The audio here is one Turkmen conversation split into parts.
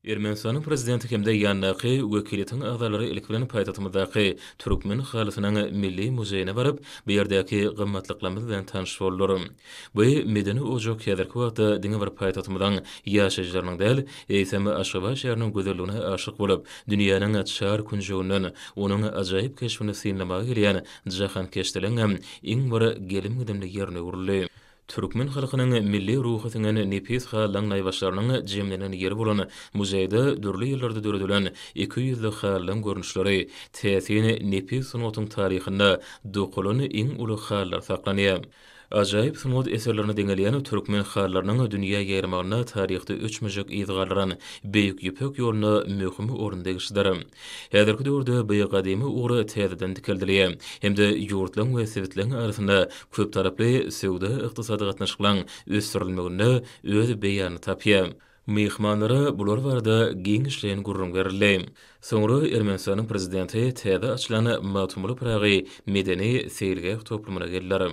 Ermenistanyň Prezidenti hem-de ýandaky wekiliýetiň agzalary ilki bilen paýtagtymyzdaky Türkmen halysynyň milli muzeýine baryp, bu ýerdäki gymmatlyklarymyz bilen tanyş boldular. Bu medeni ojak häzirki wagtda diňe bir paýtagtymyzyň ýaşaýjylarynyň däl, eýsem, Aşgabat şäheriniň gözelligine aşyk bolup, dünýäniň çar künjeginden onuň ajaýyp keşbini synlamaga gelýän jahankeşleriň hem iň bir gelim-gidimli ýerine öwrüldi. Türkmen halkynyň milli ruhy siňen nepis halylaryň naýbaşylarynyň jemlenen ýeri bolan muzeýde dürli ýyllarda döredilen iki ýüzli halylaryň görnüşleri, täsin nepis sungatyň taryhynda dokalan iň uly halylar saklanýar. Ajaýyp sungat eserlerine deňelýän türkmen halylarynyň dünýä ýaýramagynda taryhda öçmejek yz galdyran Beýik Ýüpek ýoluna möhüm orun degişlidir. Häzirki döwürde bu gadymy ugur täzeden dikeldilýär hem-de ýurtlaryň we sebitleň arasynda köptaraply söwda-ykdysady gatnaşyklaň ösdürilmeginde öz beýanyny tapýar. Myhmanlara bular barada giňişleýin gürrüň berildi. Soňra Ermenistanyň Prezidenti täze açylan Magtymguly Pyragy medeni-seýilgäh toplumyna geldiler.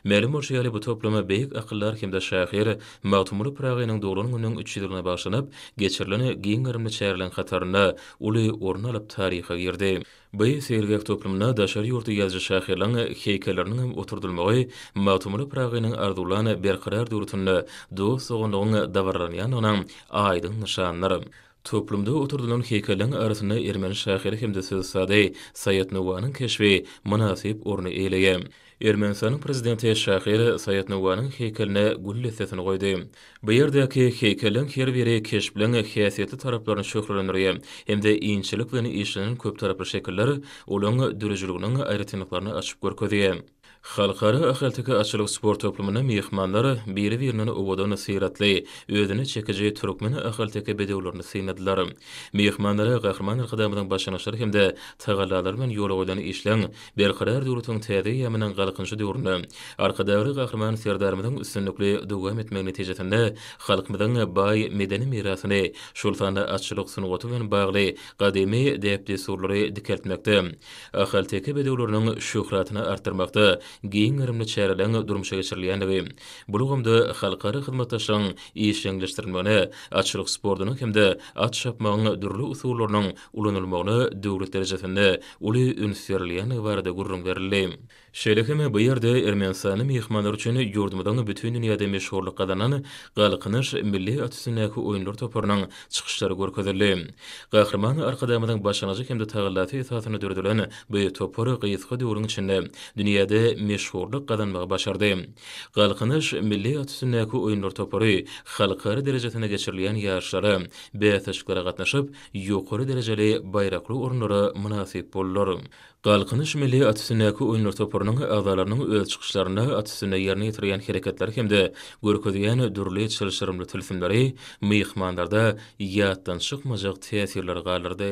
Mälim bolşy ýaly, bu toplum beýik akyldar hem-de şahyr Magtymguly Pyragynyň doglan gününiň üç ýüz ýylyna bagyşlanyp geçirilen giň gerimli çäreleriň hatarynda uly orun alyp taryha girdi. Bu seýilgäh toplumyna daşary ýurtly ýazyjy-şahyrlaryň heýkelleriniň hem oturdylmagy Magtymguly Pyragynyň arzuwlan berkarar döwletinde dost-doganlygyň dabaralanýandygynyň aýdyň nyşanydyr. Toplumda oturdylan heýkelleriň arasynda ermeni şahyry hem-de söz usady Saýat Nowanyň keşbi mynasyp orny eýeleýär. Ermenistanyň prezidenti şahyr Saýat Nowanyň heýkeline gül dessesini goýdy. Bu ýerdäki heýkelleriň her biri keşpleriň häsiýetli taraplaryny şöhlelendirýär hem-de inçelik bilen işlenen köptaraply şekiller olaň döredijiliginiň aýratynlyklaryny açyp görkezýär. Halkara ahalteke atçylyk sport toplumyna myhmanlar biri-birinden owadan syratly, özüne çekiji türkmen ahalteke bedewlerini synladylar. Myhmanlara Gahryman Arkadagymyzyň başlangyçlary hem-de tagallalary bilen ýola goýlan işleň Berkarar döwletiň täze eýýamynyň Galkynyşy döwründe Arkadagly Gahryman Serdarymyzyň üstünlikli dowam etmegi netijesinde halkymyzyň baý medeni mirasyny, şol sanda atçylyk sungaty bilen bagly gadymy däp-dessurlary dikeltmekde, ahalteke bedewleriniň şöhratyny artdyrmakda giň gerimli çäreleriň durmuşa geçirilýändigi, bu ulgamda halkara hyzmatdaşlygyň işjeňleşdirilmegine, atçylyk sportunyň hem-de at çapmagyň dürli usullarynyň ulanylmagyna döwlet derejesinde uly üns berilýändigi barada gürrüň berildi. Şeýle hem bu ýerde Ermenistanyň myhmanlary üçin ýurdumyzyň bütin dünýäde meşhurlyk gazanan Galkynyş milli at üstündäki oýunlar toparynyň çykyşlary görkezildi. Gahryman Arkadagymyzyň başlangyjy hem-de tagallasy esasynda döredilen bu topar gysga döwrüň içinde dünýäde meşhurlyk gazanmagy başardy. Galkynyş milli at üstündäki oýunlar topary halkara derejesinde geçirilýän ýaryşlara, bäsleşiklere gatnaşyp, ýokary derejeli baýrakly orunlara mynasyp boldular. Galkynyş milli at üstündäki oýunlar toparynyň agzalarynyň öz çykyşlarynda at üstünde ýerine ýetirýän hereketleri hem-de görkezýän dürli çylşyrymly tilsimleri myhmanlarda ýatdan çykmajak täsirleri galdyrdy.